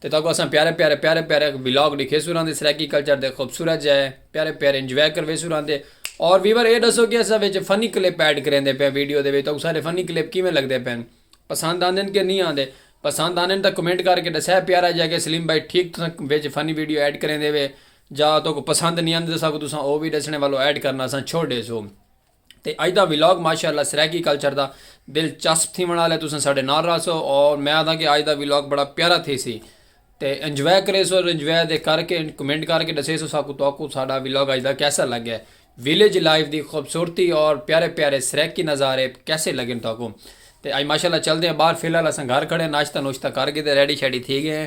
تے تہاکوں اساں پیارے پیارے پیارے پیارے ولاگ ڈکھیسوں راندے سرائیکی کلچر دے خوبصورت جائے پیارے پیارے انجوائے کرویسوں راندے اور ویور اے ڈسو کہ اساں وچ فنی کلپ ایڈ کریندے پے ویڈیو دے وچ تہاکوں سارے فنی کلپ کیویں لگدے پین پسند آندن کہ نہیں آندے پسند آندن تاں کمنٹ کر کے ڈسے پیارا جا کہ سلیم بھائی ٹھیک تساں وچ فنی ویڈیو ایڈ کریندے وے جا تہاکوں پسند نہیں آندے تساکوں تساں او وی ڈسنے والو ایڈ کرنا اساں چھوڑ ڈیسوں۔ تے اج دا ولاگ ماشاءاللہ سرائیکی کلچر دا دلچسپ تھیوݨ آلا ہے تساں ساڈے نال راہسو اور میں آدھاں کہ اج دا ولاگ بڑا پیارا تھیسی تے انجوائے کریسو اور انجوائے دے کر کے کمنٹ کر کے ڈسیسو ساکو تواکو ساڈا ولاگ اج دا کیسا لگے ویلیج لائف دی خوبصورتی اور پیارے پیارے سرائیکی نظارے کیسے لگن تواکو تے اج ماشاءاللہ چلدے ہیں باہر فی الحال اساں گھر کھڑے ہیں ناشتہ نوشتہ کر گدے ریڈی شیڈی تھی گئے ہیں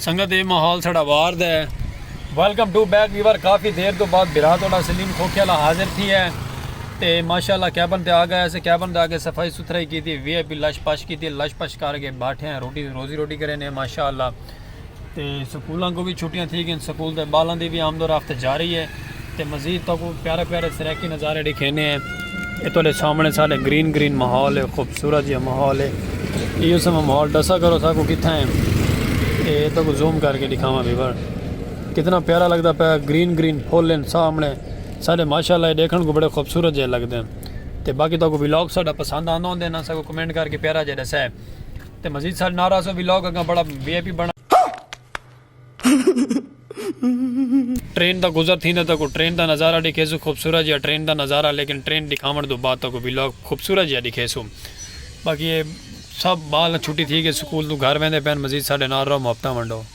سنگت یہ ماحول ساڑا وار دا ہے ویلکم ٹو بیک ویور کافی دیر تو بعد برا توڑا سلیم کھوکھے والا حاضر تھی ہے تے ماشاءاللہ کیبن تے آ گیا اسے کیبن تے آ کے صفائی ستھرائی کیتی وی آئی پی لش پش کیتی لش پش کر کے بیٹھے ہیں روٹی روزی روٹی کرے نے ماشاءاللہ تے سکولاں کوں وی چھٹیاں تھی گئین سکول دے بالاں دی وی آمد و رفت جاری ہے تے مزید تہاکوں پیارے پیارے سرائیکی نظارے ڈکھینے ہیں اے تہاڈے سامنے سارے گرین گرین ماحول ہے خوبصورت جیہا ماحول ہے ایہو سما ماحول ڈسا کرو ساکوں کتھاں ہے اے تہاکوں زوم کر کے ڈکھاواں ویور کتنا پیارا لگدا پیا گرین گرین پھول ہیں سامنے سارے ماشاءاللہ ڈیکھن کوں بڑے خوبصورت جیہے لگدے ہیں تے باقی تہاکوں ولاگ ساڈا پسند آندا ہوندے نا ساکوں کمنٹ کر کے پیارا جیہا ڈسے۔ تے مزید ساڈے نال رہسو ویلاگ اگاں بڑا وی آئی پی بنڑ ٹرین دا گزر تھیندا تاکوں ٹرین دا نظارہ ڈکھیسو خوبصورت جیہا ٹرین دا نظارہ لیکن ٹرین ڈکھاونڑ توں بعد تاکوں ویلاگ خوبصورت جیہا ڈکھیسو باقی اے سب بال چھٹی تھی گئی سکول توں گھر ویندے پین مزید ساڈے نال رہو محبتاں ونڈو۔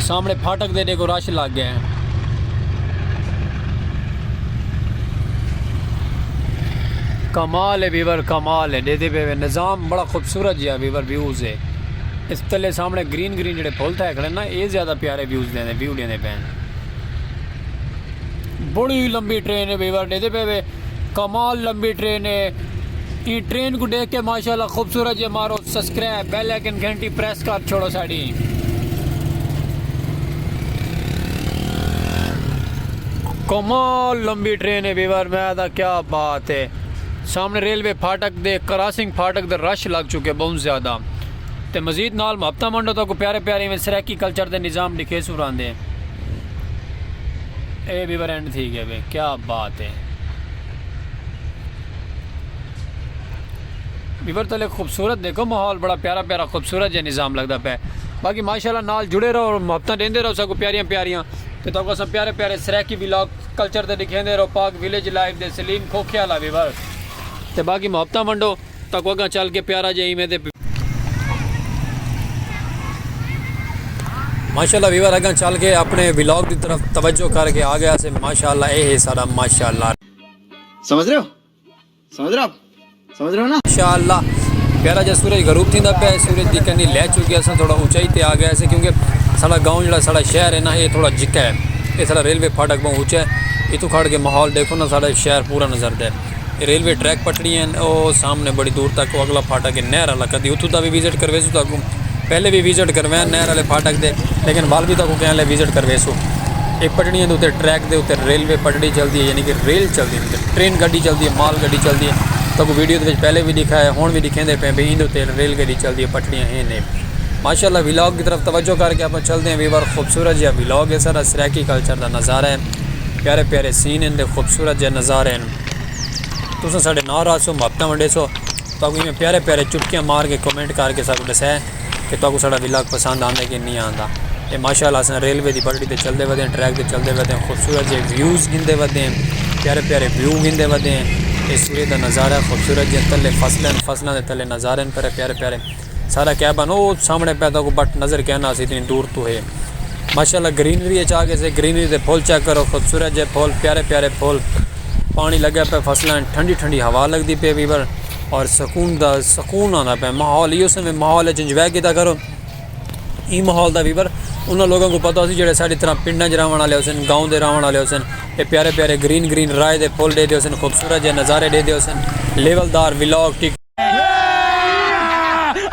سامنے پھاٹک دے ڈیکھو رش لگ گئے ہیں کمال ہے ویور کمال ہے دے دے بے نظام بڑا خوبصورت جہاں ویور ویوز ہے اس تلے سامنے گرین گرین جڑے پھول تھے کھڑے نا اے زیادہ پیارے ویوز دے دے ویو دے دے پہن بڑی لمبی ٹرین ہے ویور دے دے بے کمال لمبی ٹرین ہے این ٹرین کو دیکھ کے ماشاءاللہ خوبصورت جے مارو سبسکرائب بیل آئیکن گھنٹی پریس کر چھوڑو ساڑی کمال لمبی ٹرین ہے ویور میں دا کیا بات ہے سامنے ریلوے پھاٹک دے کراسنگ پھاٹک دے رش لگ چکے بہت زیادہ تے مزید نال محبتہ منڈو تا کو پیارے پیارے میں سریکی کلچر دے نظام دکھے سوران دے اے ویور اینڈ تھی گئے وے کیا بات ہے ویور تو لے خوبصورت دیکھو ماحول بڑا پیارا پیارا خوبصورت جے نظام لگدا پے باقی ماشاءاللہ نال جڑے رہو اور محبتاں دیندے رہو سکو پیاریاں پیاریاں تے تو اساں پیارے پیارے سرائیکی ولاگ کلچر تے دکھیندے رہو پاک ویلیج لائیو دے سلیم کھوکھے والا ویور تے باقی محبتاں ونڈو تکو اگاں چل کے پیارا جے ایویں دے۔ ماشاءاللہ ویور اگاں چل کے اپنے ولاگ دی طرف توجہ کر کے آگئے آسے ماشاءاللہ اے ہے ساڈا ماشاءاللہ۔ سمجھ رہے ہو سمجھ رہے ہو آپ سمجھ رہے ہو نا۔ ماشاءاللہ پیارا جے سورج غروب تھیندا پیا ہے سورج دی کرنی لہہ چکی اساں تھوڑا اونچائی تے آگئے آسے کیونکہ ساڈا گاؤں جیڑا ساڈا شہر ہے نا اے تھوڑا جھکا ہے اے ساڈا ریلوے پھاٹک بہوں اونچا ہے اتھوں کھڑ کے ماحول ڈیکھو نا ساڈا شہر پورا نظر دے۔ ریلوے ٹریک پٹڑی ہیں او سامنے بڑی دور تک او اگلا پھاٹا کہ نہر والا کدی اتھوں دا بھی وزٹ کرویسو تاکو پہلے بھی وزٹ کرویاں نہر والے پھاٹا دے لیکن وال بھی تاکو کہنے وزٹ کرویسو ایک پٹڑی ہیں دو تے ٹریک دے اتھے ریلوے پٹڑی چل دی ہے یعنی کہ ریل چل دی ہے ٹرین گڈی چل دی ہے مال گڈی چل دی ہے تاکو ویڈیو دے پہلے بھی دکھا ہے ہون بھی دکھیں دے پہ بھی ان دو تے ریل گڈی چل دی ہے پٹڑیاں ہیں نے ماشاءاللہ ویلاگ کی طرف توجہ کر کے اپنا چل دیں ویور خوبصورت جہاں ویلاگ ہے سارا سریکی کلچر دا نظارہ ہے پیارے پیارے سین ہن تے خوبصورت جے نظارے ہن تساں ساڈے نال رہسو محبتاں ونڈیسو تاکو ایویں پیارے پیارے چٹکیاں مار کے کمنٹ کر کے ساکو ڈسے کہ تاکو ساڈا ولاگ پسند آندے کہ نہیں آندا اے ماشاءاللہ اساں ریلوے دی پٹڑی تے چلدے ودے ہیں ٹریک تے چلدے ودے ہیں خوبصورت جے ویوز گھندے ودے ہیں پیارے پیارے ویو گھندے ودے ہیں اے سورج دا نظارہ خوبصورت جے تلے فصل ہیں فصلاں دے تلے نظارے ہیں پیارے پیارے سارا کیبن او سامنے پے تاکو بٹ نظر کیا نہ سی اتنی دور تو ہے ماشاءاللہ گرینری اچ آ گئے سے گرینری دے پھول چیک کرو خوبصورت جے پھول پیارے پیارے پھول پانی لگے پے فصلاں ٹھنڈی ٹھنڈی ہوا لگ دی پے ویور اور سکون دا سکون آندا پے ماحول ایو سے ماحول اچ انجوائے کیتا کرو ای ماحول دا ویور انہاں لوگوں کو پتہ سی جڑے ساڈی طرح پنڈاں وچ رہون والے ہوسن گاؤں دے رہون والے ہوسن اے پیارے پیارے گرین گرین رائے دے پھول ڈے دے ہوسن خوبصورت جے نظارے ڈے دے ہوسن لیول دار ولاگ ٹک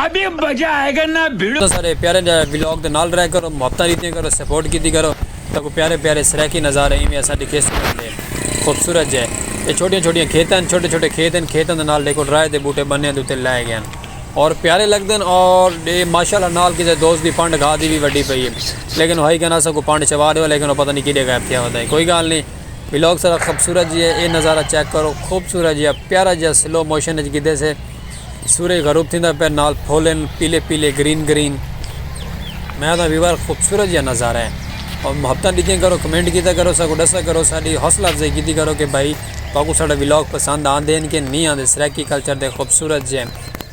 ابھی مزہ آئے گا نا بھیڑو تساں سارے پیارے دے ولاگ دے نال رہیا کرو محبتاں ڈتیاں کرو سپورٹ کیتی کرو تاکو پیارے پیارے سرائیکی نظارے ایویں اساڈی کھیستی بن جے خوبصورت جے اے چھوٹیاں چھوٹیاں کھیتاں ہن چھوٹے چھوٹے کھیت ہن کھیتاں دے نال ڈیکھو ڈرائے دے بوٹے بنیاں دے اتے لائے گئے ہن اور پیارے لگدے ہن اور ڈے ماشاءاللہ نال کسے دوست دی پنڈ گھا دی وی وڈی پئی اے لیکن ہائی کنا اساں کو پنڈ چوا ڈیو لیکن او پتہ نی کیڈے غائب تھیا ہو تئیں کوئی گال نی ولاگ سارا خوبصورت جی ہے اے نظارہ چیک کرو خوبصورت جی ہے پیارا جی ہے سلو موشن اچ گدے سے سورج غروب تھیندا پہ نال پھولن پیلے پیلے گرین گرین میں دا ویور خوبصورت جی ہے نظارہ ہے اور محبتاں دیتے کرو کمنٹ کیتا کرو ساکو ڈسا کرو ساڈی حوصلہ افزائی کیتی کرو کہ بھائی تاکو ساڈا ولاگ پسند آن دین کہ نہیں آن دے سرائیکی کلچر دے خوبصورت جی ہے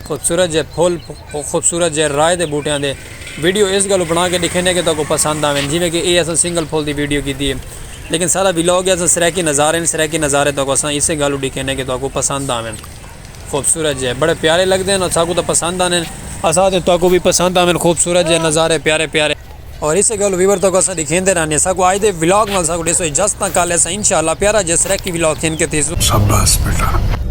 خوبصورت جی ہے پھول او خوبصورت جئے رائے دے بوٹیاں دے ویڈیو اس گلوں بنا کے ڈکھینے کہ تہاکوں پسند آوین جیویں کہ اے اساں سنگل پھول دی ویڈیو کیتی ہے لیکن سارا ولاگ اساں سرائیکی نظارے ہن سرائیکی نظارے تہاکوں اساں اسے گلوں ڈکھینے کہ تہاکوں پسند آوین خوبصورت جئے بڑے پیارے لگدے ہن اساکوں تاں پسند آندین اساں تے تہاکوں وی پسند آوین خوبصورت جئے نظارے پیارے پیارے۔ اور اسے گلوں ویور تہاکوں اساں ڈکھیندے رہنے اساکوں آج دے ولاگ نال اساکوں ڈیسو اجازتاں کل اساں انشاءاللہ پیارا جئے سرائیکی ولاگ کھین کے تیزو۔ شاباس بیٹا۔